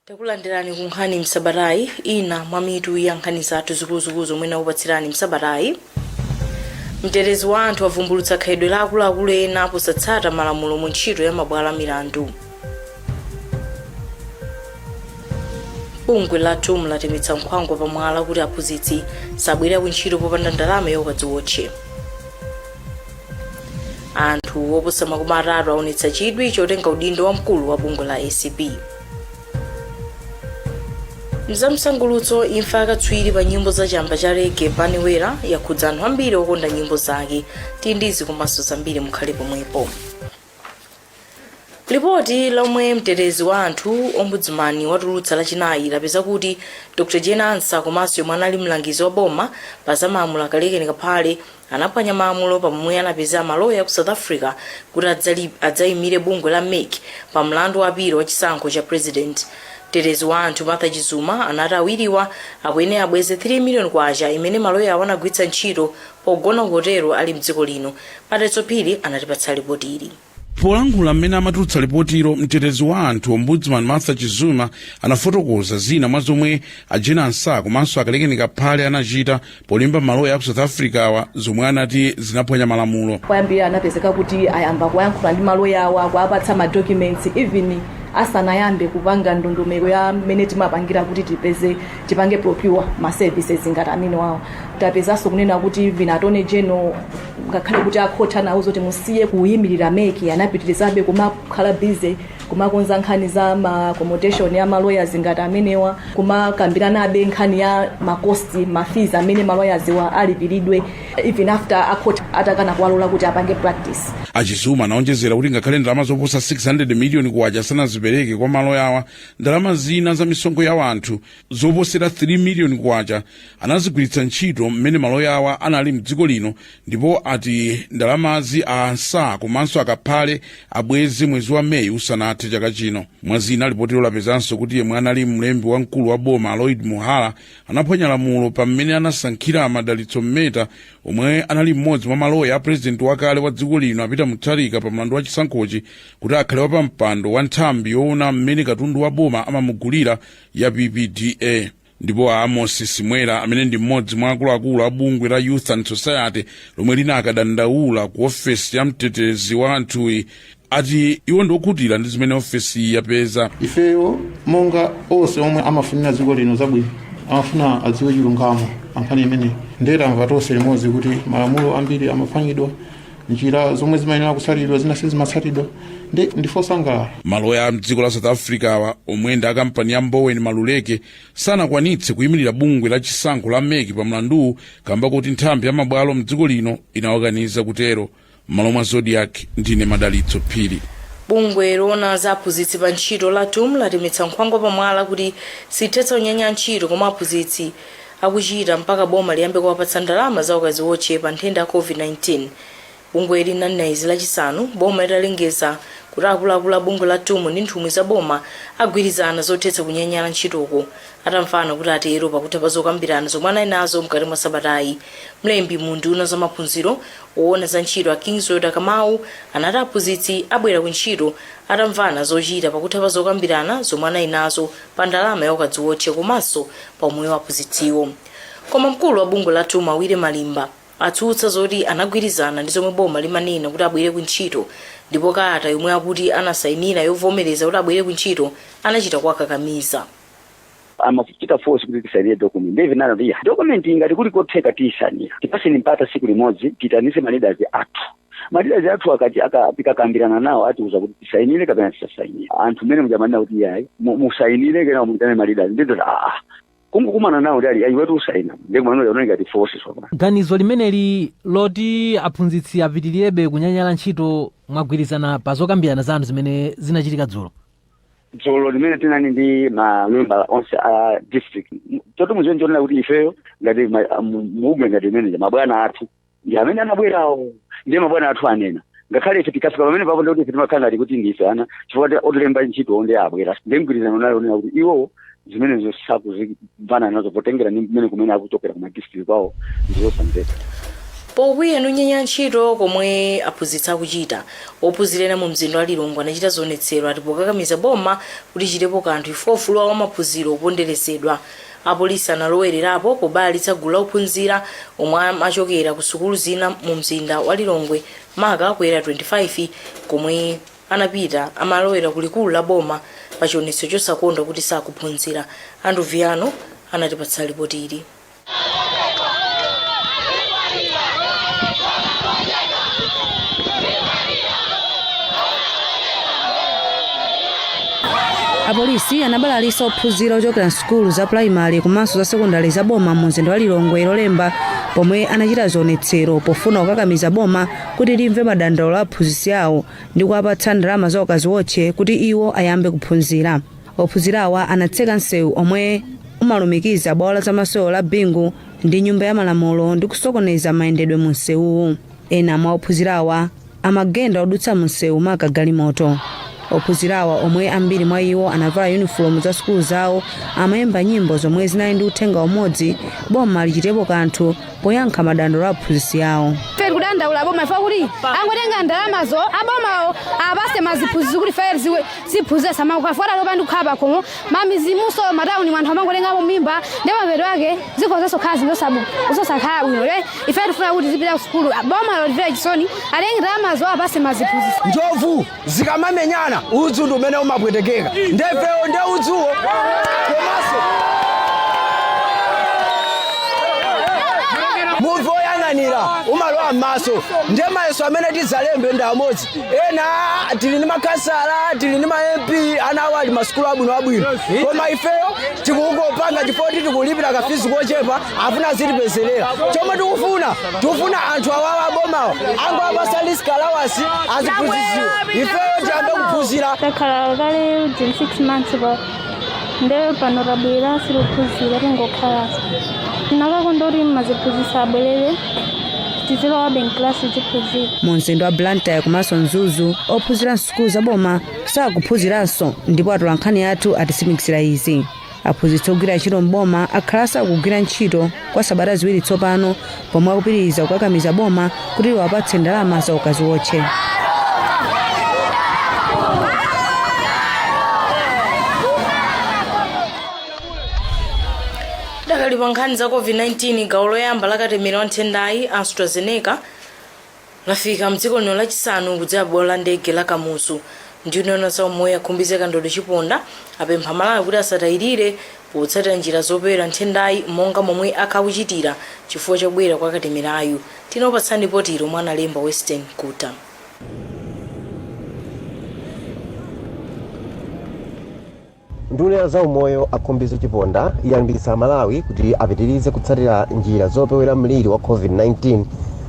takulandilani ku nkhani msabatayi ina mwa mitu ya nkhani zathu zikuluzikulu zomwe ndakupatsirani msabatayi mtetezi wa anthu avumbulutsa khalidwe la akuluakulu ena posatsata malamulo mu ntchito ya mabwalo a milandu bungwe la tum latemetsa nkhwangwa pa mwala kuti aphunzitsi sabwerera ku ntchito popanda ndalama ya ukaziwotche anthu oposa makumi atatu aonetsa chidwi chotenga udindo wa mkulu wa bungwe la acb mzamsangulutso imfa yakatswiri pa nyimbo za chamba cha rege Bunny Wailer yakhudza anthu ambiri okonda nyimbo zake tili ndi izi komanso zambiri mukhale pomwepo lipoti lomwe mtetezi wa anthu ombudsman watulutsa lachinayi lapeza kuti dr jane ansah komanso yemwe anali mlangizi wa boma pa za malamulo a kalekeni kaphale anaphwanya malamulo pamomwe anapezera maloya ku south africa kuti adzayimire bungwe la mec pa mlandu wa apilo wa chisankho cha president mtetezi wa anthu martha chizuma anati awiriwa akuyenera abweze 3 million kwacha imene maloya awo anagwiritsa ntchito Pogona hotelo ali m'dziko lino. Madalitso Phiri anatipatsa lipotili. Polankhula m'mene amatulutsa lipotilo, mtetezi wa anthu, Ombudsman Martha Chizuma anafotokoza zina mwa zomwe a Jane Ansah komanso a Kalekeni Kaphale anachita polemba maloya aku South Africa-wa zomwe anati zinaphwanya malamulo. Poyambirira anapezeka kuti ayamba kuyankhula ndi maloya awo akuwapatsa ma documents even asanayambe kupanga ndondomeko ya m'mene timapangira kuti tipeze tipange procure ma services ngati amenewawo tapezanso kunena kuti even attorney general ngakhale kuti a court anawauza kuti musiye kuyimirira mec anapitirizabe kumakhala busy kumakonza nkhani za ma accommodation ya ma lawyers ngati amenewa kumakambiranabe nkhani ya ma cost ma fees amene ma lawyers-wa alipiridwe even after a court atakana kuwalola kuti apange practice achizuma anaonjezera kuti ngakhale ndalama zoposa 600 miliyoni kwacha sanazipereke kwa maloya awa ndalama zina za misonkho ya wanthu zoposera 3 miliyoni kwacha anazigwiritsa ntchito mmene maloya awa anali mdziko lino ndipo ati ndalamazi a ansah komanso akaphale abweze mwezi wa meyi usanathe chaka chino mwa zina lipotilo lapezanso kuti yemwe anali mlembi wamkulu wa boma a lloyd muhara anaphwanya lamulo pa mmene anasankhira madalitso mmeta omwe anali mmodzi mwa maloya a purezidenti wakale wa dziko lino a peter mutharika pa mlandu wa chisankhochi kuti akhale wapampando wa nthambi yoona mmene katundu wa boma amamugulira ya ppda ndipo a amos simwela amene ndi mmodzi mwa akuluakulu a bungwe la youth and society lomwe linakadandaula ku ofesi ya mtetezi wa anthuyi ati iwo ndi okhutira ndi zimene ofesiyi yapeza ifeyo monga onse omwe amafunira dziko lino zabwino amafuna adziwe chilungamo pankhani imeneyi ndiye tamva tonse limodzi kuti malamulo ambiri amaphwanyidwa njira zomwe zimayenera kutsatidwa zina sizimatsatidwa ndi ndife osangalala maloya a mdziko la south africa awa omwe ndi akampani ya mboweni maluleke sanakwanitse kuyimirira bungwe la chisankho la mec pa mlanduwu kamba kuti nthambi ya mabwalo mdziko lino inawakaniza kutero m'malo mwa zodiak ndine madalitso phiri bungwe loona za aphunzitsi pa ntchito la tum latemetsa nkhwangwa pamwala kuti silithetsa kunyanyala ntchito komwe aphunzitsi akuchita mpaka boma liyambe kuwapatsa ndalama za ukadziwotche pa nthenda ya Covid-19. Bungweli linanena izi Lachisanu, boma litalengeza kuti akuluakulu a bungwe la tum ndi nthumwi za boma agwirizana zothetsa kunyanyala ntchitoko atamvana kuti atero pakutha pa zokambirana zomwe anali nazo mkati mwa sabatayi. Mlembi mu unduna wa zamaphunziro, woona za ntchito a Kiswell Dakamau anati aphunzitsi abwerera kuntchito atamvana zochita pakutha pa zokambirana zomwe anali nazo pa ndalama ya ukadziwotche komanso pa umoyo wa aphunzitsiwo. Koma mkulu wa bungwe la tum a Willy Malimba atsutsa zoti anagwirizana ndi zomwe boma limanena kuti abwerere ku ntchito ndipo kalata yomwe akuti anasayinira yovomereza kuti abwerere ku ntchito anachita kuwakakamiza. amatichita force kuti tisainire document ndiye tinanena kuti ya document iyi ngati kuli kotheka tiyisainira tipatseni mpata siku limodzi titanitse maleaders athu maleaders athu akati aka- tikakambirana nawo atiuza kuti tisainire kapena tisasainire anthu mmene muja amanena kuti yayi mu- musainire kena muyitane maleaders ndidoti aa kungokumana nawo ndi ali ayiwetu musaina ndikumanole unali ngati force tsopano ganizo limeneli loti aphunzitsi apitirebe kunyanyala ntchito mwagwirizana pa zokambirana zanu zimene zinachitika dzulo dzulo limene tinali ndi mamembala onse a district toto muziwe chonena kuti ifeyo ngati ma- mu- mubungwe ngati meneja mabwana athu ndi amene anabwerawo ndiye mabwana athu anena ngakhale ife tikafika pamene papo ndikuti ife timakhala ngati kuti ndife ana chifukwa ta- otilemba ntchito ndi abwera ndi mgwirizano nayo onena kuti iwowo zimenezo sakuzimvana nazo potengera ndi mmene kumene akuchokera kuma district kwawo ndizosamveka pokwiya ndi kunyanyala ntchito komwe aphunzitsi akuchita ophunzira ena mu mzinda wa lilongwe anachita zionetsero ati pokakamiza boma kuti lichitepo kanthu ife ufulu wa maphunziro ukuponderezedwa Apolisi analowelerapo pobalalitsa gulu la ophunzira omwe amachokera ku sukulu zina mu mzinda wa Lilongwe maka ku Area 25 komwe anapita amalowera ku likulu la boma pa chionetso chosakondwa kuti sakuphunzira. Andrew Viano anatipatsa lipoti ili. Apolisi anabalalisa ophunzira ochokera m'sukulu za pulayimale komanso za sekondale za boma mu mzinda wa Lilongwe Lolemba pomwe anachita zionetsero pofuna kukakamiza boma kuti limve madandaulo a aphunzitsi awo ndi kuwapatsa ndalama za ukaziwotche kuti iwo ayambe kuphunzira. Ophunzirawa anatseka msewu omwe umalumikiza bwalo la zamasewero la Bingu ndi Nyumba ya Malamulo ndi kusokoneza mayendedwe mu msewuwu. Ena mwa ophunzirawa amagenda odutsa mumsewu maka galimoto. Ophunzirawa omwe ambiri mwa iwo anavala yunifomu za sukulu zawo amayimba nyimbo zomwe zinali ndi uthenga umodzi, boma lichitepo kanthu poyankha madandaulo a aphunzitsi awo. Ife tikudandaula boma chifukwa choti angotenga ndalamazo abomawo apase maziphunzitsi kuti ife azitiphunzitsa samakukhala chifukwa tatopa ndi kukhala pakhomo m'midzimunso m'matauni mu anthu amangotengamo mimba ndi mapeto ake zikhozanso khala zinthu zosakhala bwino le ife tifuna kuti zipita ku sukulu boma litimvere chisoni atenge ndalamazo apase maziphunzitsi njovu zikamamenyana udzu ndi umene umapwetekeka nde ifeyo nde udzuwo komanso muvi woyang'anira umalowa m'maso ndiye mayeso amene tidzalembe ndi amodzi ena tili ndi makhansala tili ndi ma mp ana awo ali masukulu abwino abwino koma ifeyo tikungopanga chifukwa choti tikulipira kafizi kochepa afuna azitipezelera chomwe tikufuna tikufuna anthu awawa abomawa angowapasa risk allowance aziphunzisiwa ifeyo tiyambe kuphunzira takhala kale within six months nde pano tabwera sitikuphunzira tingokhalanso tinakakonda kuti maziphunzisi abwerere tizilowabe mklasi tiziphunzira mu mzinda wa blantyre komanso mzuzu ophunzira msukulu zaboma sakuphunziranso ndipo atola nkhani athu atitsimikizira izi aphunzitsi ogwira ntchito mboma akhala asakugwira ntchito kwa sabata ziwiri tsopano pomwe akupitiriza kukakamiza boma kuti liwapatse ndalama za ukaziwotche tidakali pa nkhani za covid-19 gawo loyamba la katemera wa nthendayi astrazeneca Lafika mdziko lino lachisanu kudzera bwalo la ndege la Kamuzu. Nduna yoona za umoyo a Khumbize Kandodo Chiponda apempha Amalawi kuti asatayilire potsatira njira zopewera nthendayi monga momwe akhala akuchitira chifukwa chobwera kwa katemerayu. Tinakupatsirani lipotili lomwe analemba Western Guta. Nduna ya zaumoyo a Khumbize Chiponda yalimbikitsa Amalawi kuti apitirize kutsatira njira zopewera mliri wa Covid-19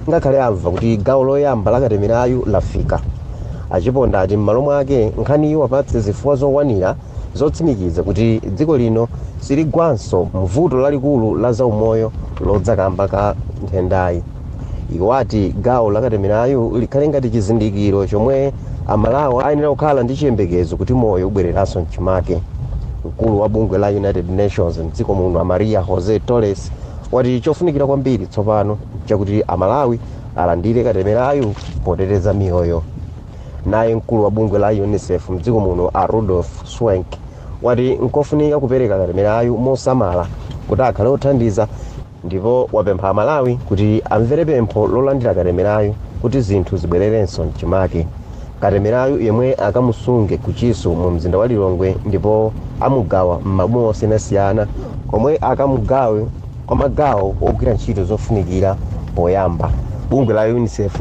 ngakhale amva kuti gawo loyamba la katemerayu lafika. A Chiponda ati m'malo mwake nkhaniyi iwapatse zifukwa zokwanira zotsimikiza kuti dziko lino siligwanso muvuto lalikulu la zaumoyo lodza kamba ka nthendayi. Iwo ati gawo la katemerayu likhale ngati chizindikiro chomwe a Malawi ayenera kukhala ndi chiyembekezo kuti moyo ubwereranso mchimake. Mkulu wa bungwe la United Nations mdziko muno a Maria Jose Torres wati chofunikira kwambiri tsopano nchakuti a Malawi alandire katemerayu poteteza miyoyo. Naye mkulu wa bungwe la Unicef mdziko muno a Rudolf Schwenk wati nkofunika kupereka katemerayu mosamala kuti akhale othandiza. ndipo wapempha Amalawi kuti amvere pempho lolandira katemerayu kuti zinthu zibwererenso mchimake. Katemerayu yemwe akamusunge ku Chisu mu mzinda wa Lilongwe ndipo amugawa m'maboma osiyanasiyana komwe akamugawe kwa magawo ogwira ntchito zofunikira poyamba. Bungwe la Unicef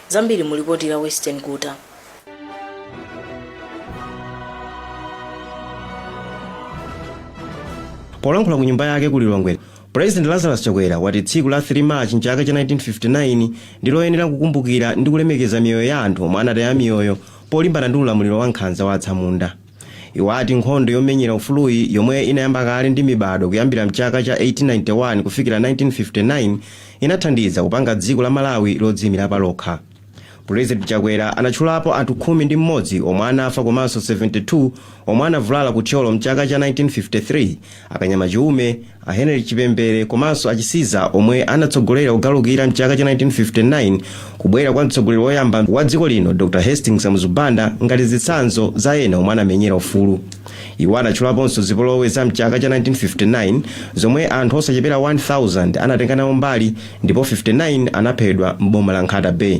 Zambiri mu lipoti la Weston Guta. Polankhula ku nyumba yake ku Lilongwe, President Lazarus Chakwera wati tsiku la 3 March mchaka cha 1959 ndi loyenera kukumbukira ndi kulemekeza miyoyo ya anthu omwe anataya miyoyo polimbana ndi ulamuliro wa nkhanza wa atsamunda. Iwo ati nkhondo yomenyera ufuluyi yomwe inayamba kale ndi mibadwo kuyambira mchaka cha 1891 kufikira 1959 inathandiza kupanga dziko la Malawi lodziyimira palokha. President Chakwera anatchulapo anthu khumi ndi m'modzi omwe anafa komanso 72 omwe anavulala ku Thyolo mchaka cha 1953, A Kanyama Chiume, a Henry Chipembere komanso a Chisiza omwe anatsogolera kugalukira mchaka cha 1959 kubwera kwa mtsogoleri woyamba wa dziko lino Dr Hastings Kamuzu Banda ngati zitsanzo za ena omwe anamenyera ufulu. Iwo anatchulaponso zipolowe za mchaka cha 1959 zomwe anthu osachepera 1000 anatenga nawo mbali ndipo 59 anaphedwa m'boma la Nkhata Bay.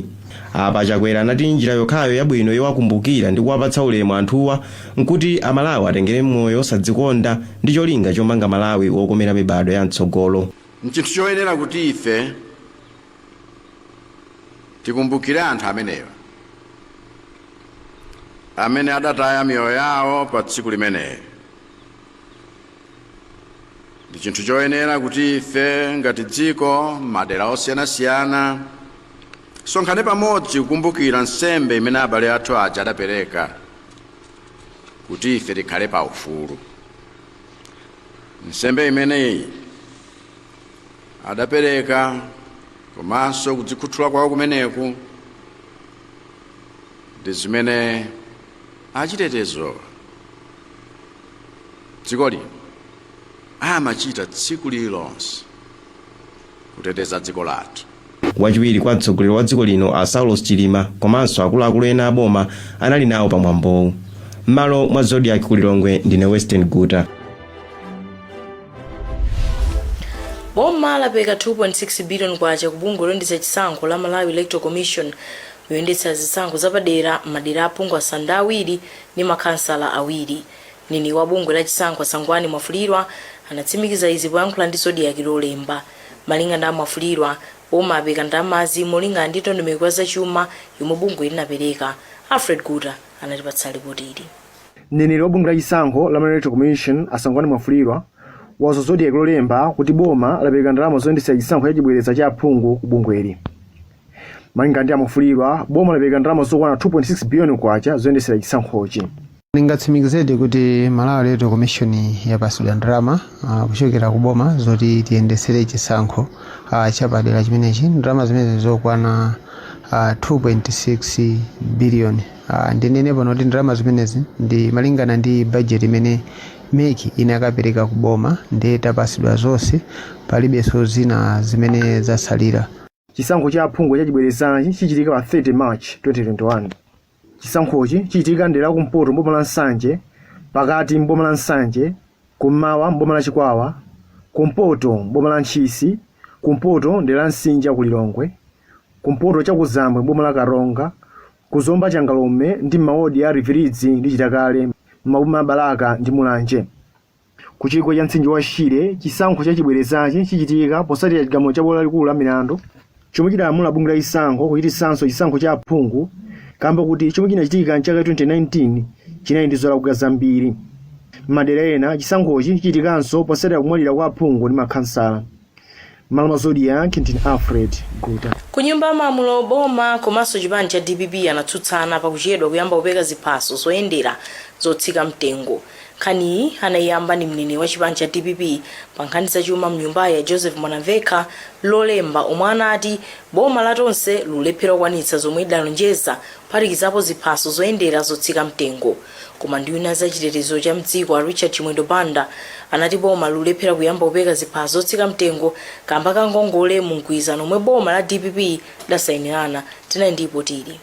Apa Chakwera anati njira yokhayo yabwino yowakumbukira ndi kuwapatsa ulemu anthuwa nkuti a Malawi atengere moyo osadzikonda ndi cholinga chomanga Malawi wokomera mibadwo ya mtsogolo. N'chinthu choyenera kuti ife tikumbukire anthu amenewa amene adataya miyoyo yawo pa tsiku limeneli. Ndi chinthu choyenera kuti ife ngati dziko m'madera osiyanasiyana tisonkhane pamodzi kukumbukira nsembe imene abale athu aja adapereka kuti ife tikhale pa ufulu nsembe imeneyi adapereka komanso kudzikhuthula kwawo kumeneku ndi zimene achitetezo a dziko lino amachita tsiku lililonse kuteteza dziko lathu. Wachiwiri kwa mtsogoleri wa dziko lino a Saulos Chilima komanso akuluakulu ena a boma anali nawo pa mwambowu. M'malo mwa Zodiak ku Lilongwe ndine Western Guta. boma lapereka 2.6 billion kwacha ku bungwe loyendetsa chisankho la malawi electoral commission yoyendetsera zisankho zapadera m'madera aphungu asanu ndi awiri ndi makhansala awiri Mneneri wa bungwe la chisankho a Sangwani Mwafulirwa anatsimikiza izi poyankhula ndi Zodiak lolemba. Malinga ndi a Mwafulirwa, boma lapereka ndalamazi molingana ndi ndondomeko ya za chuma yomwe bungweli linapereka. Alfred Guta anatipatsa lipoti ili. Mneneri wa bungwe la chisankho la Malawi Electoral Commission a Sangwani Mwafulirwa wauza Zodiak lolemba kuti boma lapereka ndalama zoyendetsera chisankho cha chibwereza cha aphungu ku bungweli. Malinga ndi a Mwafulirwa, boma lapereka ndalama zokwana 2.6 biliyoni kwacha zoyendetsera chisankhochi. Ndingatsimikizedi kuti Malawi Electoral Commission yapatsidwa ndalama ah, kuchokera ku boma zoti tiyendetsere chisankho ah, chapadera chimenechi. Ndalama zimenezi zokwana ah, 2.6 biliyoni. Ah, Ndinene pano kuti ndalama zimenezi ndi malingana ndi bajeti imene mec inakapereka ku boma ndiye tapatsidwa zonse palibenso zina zimene zatsalira. Chisankho cha aphungu chachibwerezachi chichitika pa 30 March 2021. Chisankhochi chichitika m'dera la kumpoto m'boma la Nsanje, pakati m'boma la Nsanje, kum'mawa m'boma la Chikwawa, kumpoto m'boma la Ntchisi, kumpoto m'dera la Msinja ku Lilongwe, kumpoto chakuzambwe m'boma la Karonga, ku Zomba Changalume ndi m'mawodi a Rivirivi ndi Chitakale m'maboma a Balaka ndi Mulanje. Ku chigwa cha mtsinje wa Shire, chisankho cha chibwerezachi chichitika potsatira chigamulo cha Bwalo Lalikulu la Milandu chomwe chidalamula bungwe la chisankho kuchititsanso chisankho cha aphungu kaamba kuti chomwe chinachitika m'chaka cha 2019 chinali ndi zolakwika zambiri. M'madera ena, chisankhochi chichitikanso potsatira kumwalira kwa aphungu ndi makhansala. M'malo mwa Zodiak ndine Alfred Guta. Ku nyumba ya malamulo boma komanso chipani cha dpp anatsutsana pa kuchedwa kuyamba kupereka ziphaso zoyendera zotsika mtengo. Nkhaniyi anayiyamba ndi mneneri wa chipani cha dpp pa nkhani za chuma mnyumbayi a Joseph Mwanamvekha lolemba omwe anati boma la Tonse likulephera kukwanitsa zomwe lidalonjeza kuphatikizapo ziphaso zoyendera zotsika mtengo. Koma nduna ya za chitetezo cha m'dziko a Richard Chimwendo Banda anati boma likulephera kuyamba kupereka ziphaso zotsika mtengo kamba ka ngongole mu mgwirizano omwe boma la dpp lidasainirana. Tinali ndi lipoti ili.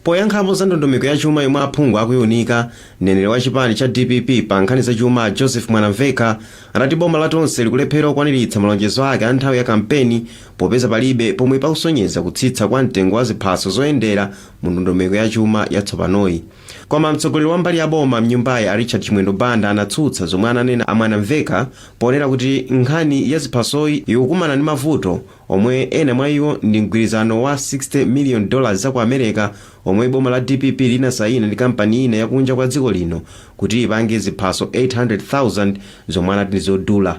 Poyankhapo za ndondomeko ya chuma yomwe aphungu akuiunika, mneneri wa chipani cha dpp pa nkhani za chuma a Joseph Mwanamvekha anati boma la Tonse likulephera kukwaniritsa malonjezo ake a nthawi ya kampeni popeza palibe pomwe pakusonyeza kutsitsa kwa mtengo wa ziphaso zoyendera mu ndondomeko ya chuma yatsopanoyi. Koma mtsogoleri wa mbali ya boma mnyumbayi a Richard Chimwendo Banda anatsutsa zomwe ananena a Mwanamvekha ponena kuti nkhani ya ziphasoyi ikukumana ndi mavuto omwe ena mwa iwo ndi mgwirizano wa 60 million dollars za ku Amereka omwe boma la dpp linasayina ndi kampani ina ya kunja kwa dziko lino kuti ipange ziphaso 800,000 zomwe anati ndi zodula.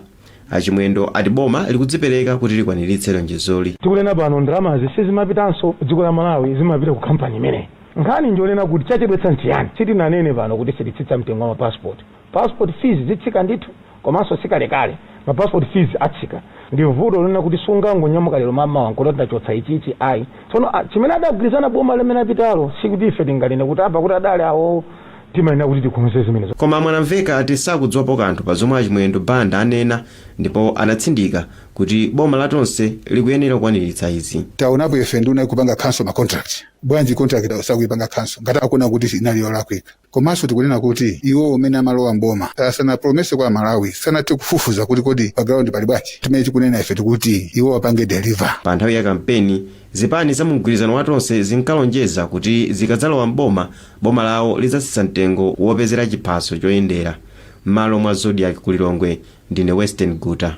A Chimwendo ati boma likudzipereka kuti likwaniritse lonjezoli. Tikunena pano ndalamazi sizimapitanso dziko la Malawi zimapita ku kampani imeneyi. Nkhani njonena kuti chachedwetsa nchiyani? Sitinanene pano kuti sititsitsa mtengo wa ma passport. Passport fees zitsika ndithu komanso sikalekale ma passport fees atsika. Ndi vuto lonena kuti sungangonyamuka lero mamawa nkuti ndachotsa ichi ichi ayi. Tsono chimene adagwirizana boma limene apitalo sikuti ife tinganene kuti apa kuti adali awowo. timayenera kuti tikonze zimenezo. Koma a Mwanamvekha ati sakudziwapo kanthu pa zomwe a Chimwendo Banda anena ndipo anatsindika kuti boma la Tonse likuyenera kukwaniritsa izi. taonapo ife nduna ikupanga cancel ma contract bwanji contract sakuipanga cancel ngati akuona kuti inali yolakwika komanso tikunena kuti iwo umene amalowa mboma asanapromise kwa Amalawi sanathe kufufuza kuti kodi pa ground pali bwanji chimene tikunena ife nchakuti iwo apange deliver Pa nthawi ya kampeni, zipani za mu mgwirizano wa Tonse zinkalonjeza kuti zikadzalowa m'boma Boma lawo lidzatsitsa mtengo wopezera chiphaso choyendera mmalo mwa Zodiak ku Lilongwe ndine Western Guta.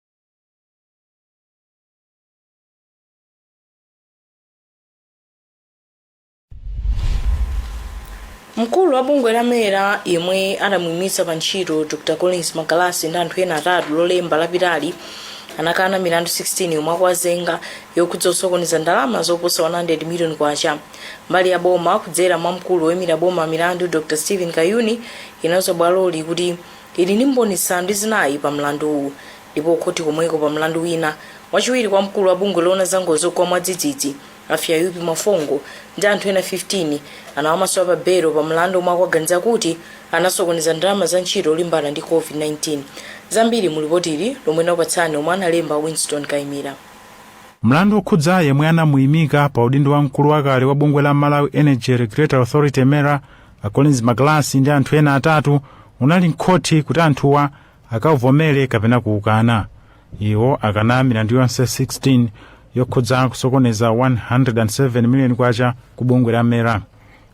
mkulu wa bungwe la mera yemwe adamuimitsa pa ntchito dr collins magalasi ndi anthu ena atatu lolemba lapitali anakana milandu 16 yomwe akuwazenga yokhudza kusokoneza ndalama zoposa 100 million kwacha mbali ya boma kudzera mwa mkulu woyimira boma milandu dr stephen kayuni inauza bwaloli kuti Ili ndi mboni zisanu ndi zinayi pa mlanduwu ndipo khothi komweko pa mlandu wina, wachiwiri kwa mkulu wa bungwe loona za ngozi zogwa mwadzidzidzi a Fyayupi Mwafongo ndi anthu ena 15 anawamasula pa belo pa mlandu omwe akuwaganizira kuti anasokoneza ndalama za ntchito yolimbana ndi Covid-19. Zambiri mu lipotili lomwe ndikupatsireni lomwe analemba Winston Kaimira. Mlandu okhudza yemwe anamuimika pa udindo, mkulu wakale wa bungwe la Malawi Energy Regulatory Authority, MERA, a collins magalasi ndi anthu ena atatu unali mkhothi kuti anthuwa akavomere kapena kuukana iwo akana milandu yonse 16 yokhudza kusokoneza 107 miliyoni kwacha ku bungwe la mera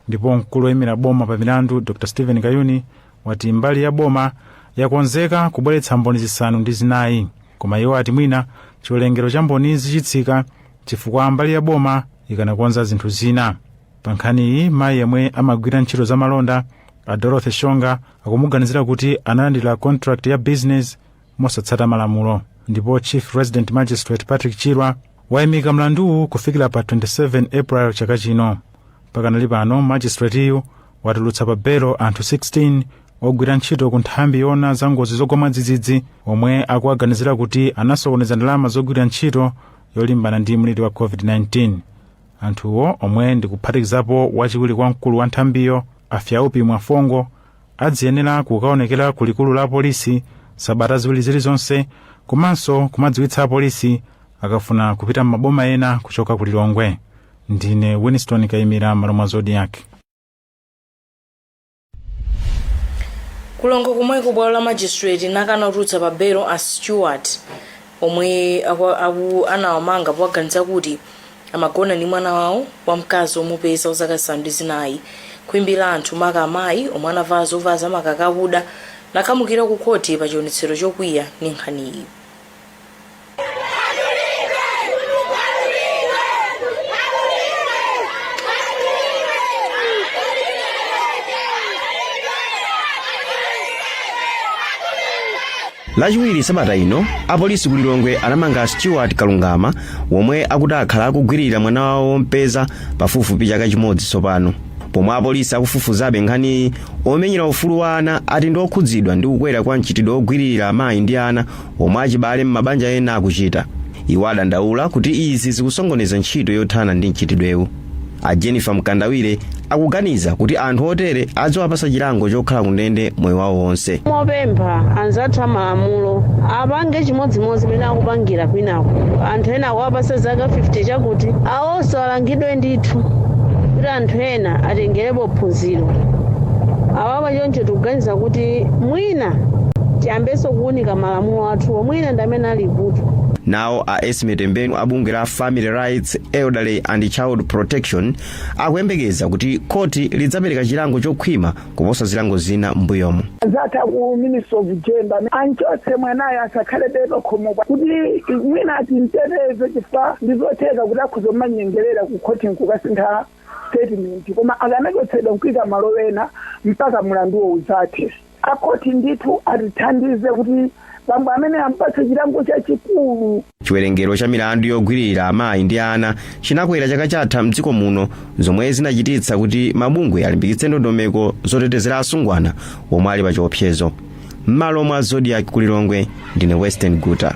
ndipo mkulu woyimira boma pa milandu dr stephen kayuni wati mbali ya boma yakonzeka kubweretsa mboni zisanu ndi zinayi koma iwo ati mwina chiwerengero cha mbonizi chitsika chifukwa mbali ya boma ikadakonza zinthu zina pa nkhaniyi mayi yemwe amagwira ntchito za malonda a dorothy shonga akumuganizira kuti analandira contract ya business mosatsata malamulo ndipo chief resident magistrate patrick chirwa wayimika mlanduwu kufikira pa 27 april chaka chino pakanali pano magistrateyu watulutsa pa belo anthu 16 ogwira ntchito ku nthambi yona za ngozi zogwa mwadzidzidzi omwe akuwaganizira kuti anasokoneza ndalama zogwira ntchito yolimbana ndi mliri wa covid-19 anthuwo omwe ndi kuphatikizapo wachiwiri kwa mkulu wa nthambiyo a fyaupi mwafongo adziyenera kukaonekera ku likulu la polisi sabata ziwiri zilizonse komanso kumadziwitsa apolisi akafuna kupita m'maboma ena kuchoka ku lilongwe ndine winston kayimira mmalo mwa zodiak ku lilongwe komweko bwalo la magistrate lakana kutulutsa pa belo a stewart omwe aku- anawamanga powaganiza kuti amagona ndi mwana wawo wamkazi omupeza wazaka zisanu ndi zinayi khwimbi la anthu maka amayi omwe anavala zovala zamakaka akuda linakhamukira ku khoti pa chionetsero chokwiya ndi nkhaniyi lachiwiri sabata ino apolisi ku lilongwe anamanga stewart kalungama omwe akuti akhala akugwirira mwana wawo wompeza pafupifupi chaka chimodzi tsopano pomwe apolisi akufufuzabe nkhaniyi omenyera ufulu wa ana ati ndi okhudzidwa ndi kukwera kwa mchitidwe ogwiririra amayi ndi ana omwe achibale m'mabanja ena akuchita iwo adandaula kuti izi zikusokoneza ntchito yothana ndi mchitidwewu a jennifer mkandawire akuganiza kuti anthu otere adziwapasa chilango chokhala kundende moyo wawo wonse ndikupempha anzathu amalamulo apange chimodzimodzi mmene akupangira kwinaku anthu ena akuwapasa zaka 50 choti awonso alangidwe ndithu kuti anthu ena atengerepo phunziro Chifukwa choncho tikuganiza kuti mwina tiyambenso kuunika malamulo athuwo mwina ndi amene ali vuto. nawo a esme tembenu a bungwe la family rights elderly and child protection akuyembekeza kuti khoti lidzapereka chilango chokhwima kuposa zilango zina m'mbuyomo akanakhala a ku ministry of gender anchotse mwanayo asakhale be pakhomopa kuti mwina atimteteze chifukwa ndizotheka kuti akhoza kumanyengerera ku khoti nkukasintha statement koma akanachotsedwa nkuika malo ena mpaka mulanduwo udzathe akhoti ndithu atithandize kuti bambo amene ampatse chilango chachikulu chiwerengero cha milandu yogwirira amayi ndi ana chinakwera chaka chatha mdziko muno zomwe zinachititsa kuti mabungwe alimbikitse ndondomeko zotetezera asungwana omwe ali pa chiopsezo m'malo mwa zodiak kulilongwe ndine western guta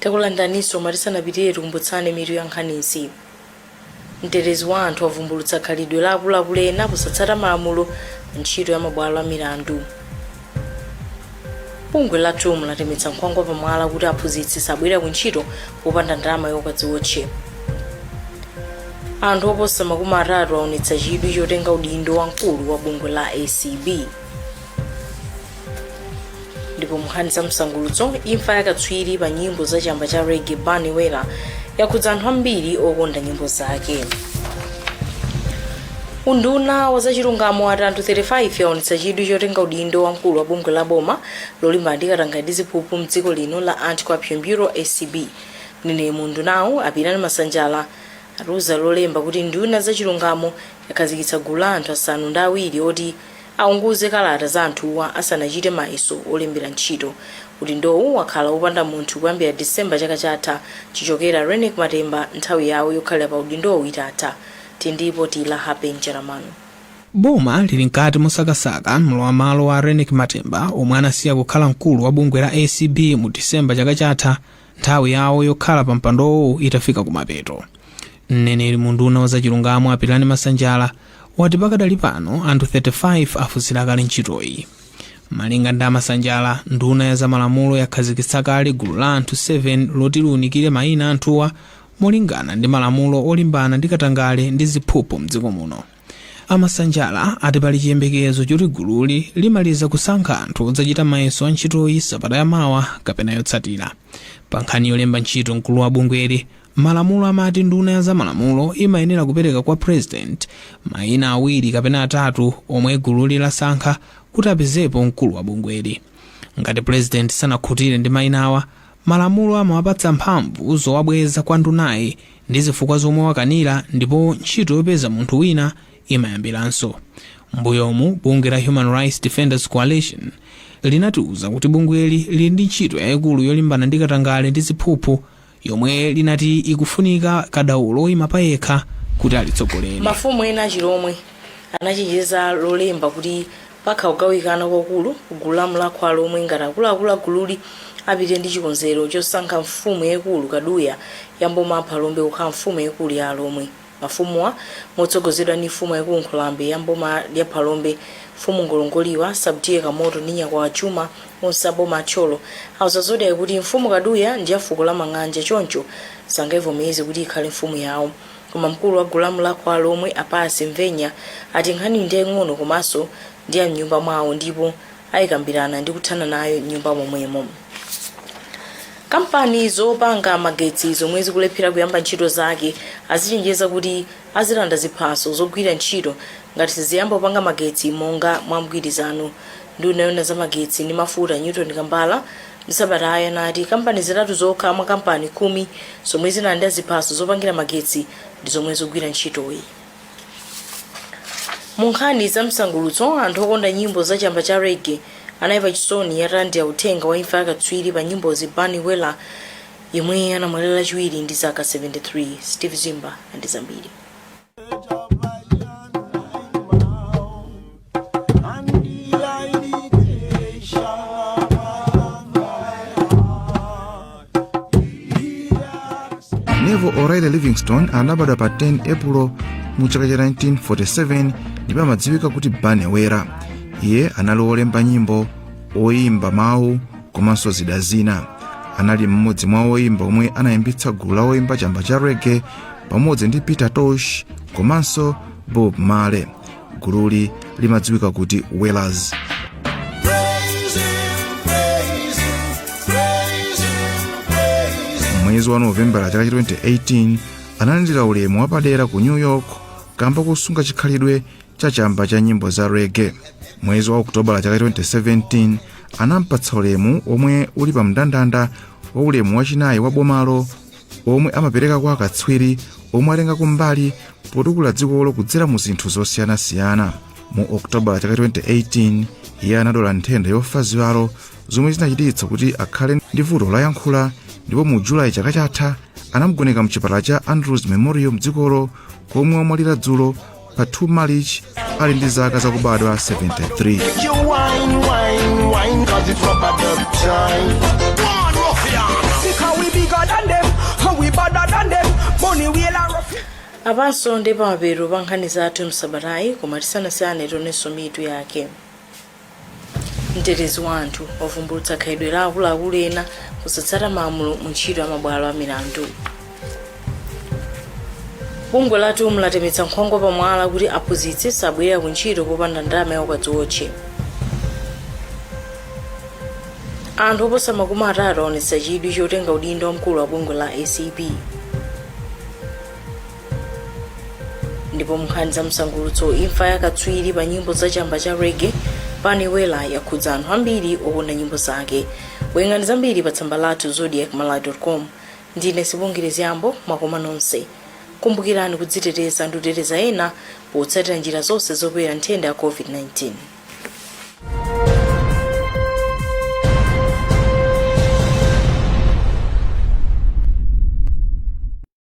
takulandiraninso ma tisanapitire tikumbutsane mitu ya nkhanizi mtetezi wa anthu wavumbulutsa khalidwe la akuluakulu ena posatsata malamulo pa ntchito ya mabwalo a milandu bungwe la tum latemetsa nkhwangwa pamwala kuti aphunzitsi sabwera ku ntchito popanda ndalama yokadziwotche anthu oposa makumi atatu aonetsa chidwi chotenga udindo wa mkulu wa bungwe la acb ndipo munkhani za msangulutso imfa yakatswiri pa nyimbo za chamba cha rege bunny wailer yakhudza anthu ambiri okonda nyimbo zake Unduna wa zachilungamo wati anthu 35 awonetsa chidwi chotenga udindo wa mkulu wa bungwe la boma lolimbana ndi katangale ndi ziphuphu m'dziko lino la Anti-Corruption Bureau, acb. Mneneri mu undunawu, a Pilirani Masanjala, atiuza Lolemba kuti nduna ya zachilungamo yakhazikitsa gulu la anthu asanu ndi awiri oti aunguze kalata za anthuwa asanachite mayeso olembera ntchito. Udindowu wakhala wopanda munthu kuyambira December chaka chatha chichokere a Reyneck Matemba nthawi yawo yokhalira pa udindowu itatha. ndipo tili naye Happy Njalam'mano. Boma lili mkati mosakasaka mlowamalo wa Reyneck Matemba omwe anasiya kukhala mkulu wa bungwe la acb mu December chaka chatha nthawi yawo yokhala pa mpandowo itafika kumapeto. Mneneri mu unduna wa zachilungamo a Pilirani Masanjala wati pakadali pano anthu 35 afunsira kale ntchitoyi. Malinga ndi a Masanjala, nduna ya zamalamulo yakhazikitsa kale gulu la anthu 7 loti liunikire mayina a anthuwa Molingana ndi malamulo olimbana ndi katangale ndi ziphuphu mdziko muno, a Masanjala ati pali chiyembekezo choti gululi limaliza kusankha anthu odzachita mayeso a ntchitoyi sabata ya mawa kapena yotsatira. Pa nkhani yolemba ntchito mkulu wa bungweli, malamulo amati nduna ya za malamulo imayenera kupereka kwa president maina awiri kapena atatu omwe gululi lasankha kuti apezepo mkulu wa bungweli. Ngati president sanakhutire ndi mainawa, Malamulo amawapatsa mphamvu zowabweza kwa ndunayi ndi zifukwa zomwe wakanira ndipo ntchito yopeza munthu wina imayambiranso. Mmbuyomu bungwe la Human Rights Defenders Coalition linatiuza kuti bungweli lili ndi ntchito yaikulu yolimbana ndi katangale ndi ziphuphu yomwe linati ikufunika kadaulo woima payekha kuti alitsogolere. Mafumu ena achilomwe anachenjeza Lolemba kuti Pakhala kugawikana kwakulu ku gulu la Mlakho wa Alomwe ngati akuluakulu a gululi apite ndi chikonzero chosankha mfumu yaikulu Kaduya ya mboma a Phalombe kukhala mfumu yaikulu ya alomwe. Mafumuwa motsogozedwa ndi mfumu yaikulu Nkhulambe ya mboma la Phalombe mfumu Ngolongoliwa, Sub T/A Kamoto ndi Nyakwawa Chuma onse a boma a Thyolo auza Zodiak kuti mfumu Kaduya ndi ya fuko la Mang'anja choncho sangaivomereze kuti ikhale mfumu yao. Koma mkulu wa gulu la Mlakho wa Alomwe a Pius Mvenya ati nkhaniyi ndi yaing'ono komanso ndi ya m'nyumba mwawo ndipo ayikambirana ndi kuthana nayo m'nyumba momwemo. Kampani zopanga magetsi zomwe zikulephera kuyamba ntchito zake azichenjeza kuti azilanda ziphaso zogwira ntchito ngati siziyamba kupanga magetsi monga mwa mgwirizano. Nduna yoona za magetsi ndi mafuta Newton Kambala M'sabatayi anati kampani zitatu zokha mwa kampani khumi zomwe zinalandira ziphaso zopangira magetsi ndi zomwe zikugwira ntchitoyi. Mu nkhani za msangulutso, anthu okonda nyimbo za chamba cha reggae anali pa chisoni atalandira uthenga wa imfa ya katswiri pa nyimbozi Bunny Wailer yemwe anamwalira Lachiwiri ndi zaka 73. Steve Zimba ndi zambiri. neville o'reilly livingstone anabadwa pa 10 epulo mu chaka cha 1947 ndipo amadziwika kuti bunny wailer iye anali wolemba nyimbo oyimba mawu komanso zida zina anali mmodzi mwa oyimba omwe anayambitsa gulu la oyimba chamba cha reggae pamodzi ndi peter tosh komanso bob marley gululi limadziwika kuti wailers mwezi wa novembala chaka cha 2018 analandira ulemu wapadera ku new york kamba kosunga chikhalidwe cha chamba cha nyimbo za reggae mwezi wa okutobala chaka cha 2017 anampatsa ulemu omwe uli pa mndandanda wa ulemu wachinayi wa bomalo omwe amapereka kwa akatswiri omwe atengako mbali potukula dzikolo kudzera mu zinthu zosiyanasiyana mu okutobala chaka 2018 iye anadwala nthenda yofa ziwalo zomwe zinachititsa kuti akhale ndi vuto loyankhula ndipo mu julayi chaka chatha anamgoneka mchipatala cha andrews memorial mdzikolo komwe wamwalira dzulo pa 2 malichi ali ndi zaka zakubadwa 73 apanso ndi pamapeto pa nkhani zathu msabatayi koma tisanasiyane tionenso mitu yake mtetezi wa anthu wavumbulutsa khalidwe la akuluakulu ena kusatsata malamulo mu ntchito ya mabwalo a milandu bungwe la tum latemetsa nkhwangwa pamwala kuti aphunzitsi sabwerera ku ntchito popanda ndalama yaukadziwotche anthu oposa makumi atatu aonetsa chidwi chotenga udindo wamkulu wa bungwe la acb ndipo munkhani za msangulutso imfa ya katswiri pa nyimbo za chamba cha reggae bunny wailer yakhudza anthu ambiri okonda nyimbo zake werengani zambiri pa tsamba lathu zodiak malawi com ndine sibongile zyambo makoma nonse kumbukirani kudziteteza ndi kuteteza ena potsatira njira zonse zopewera nthenda ya covid-19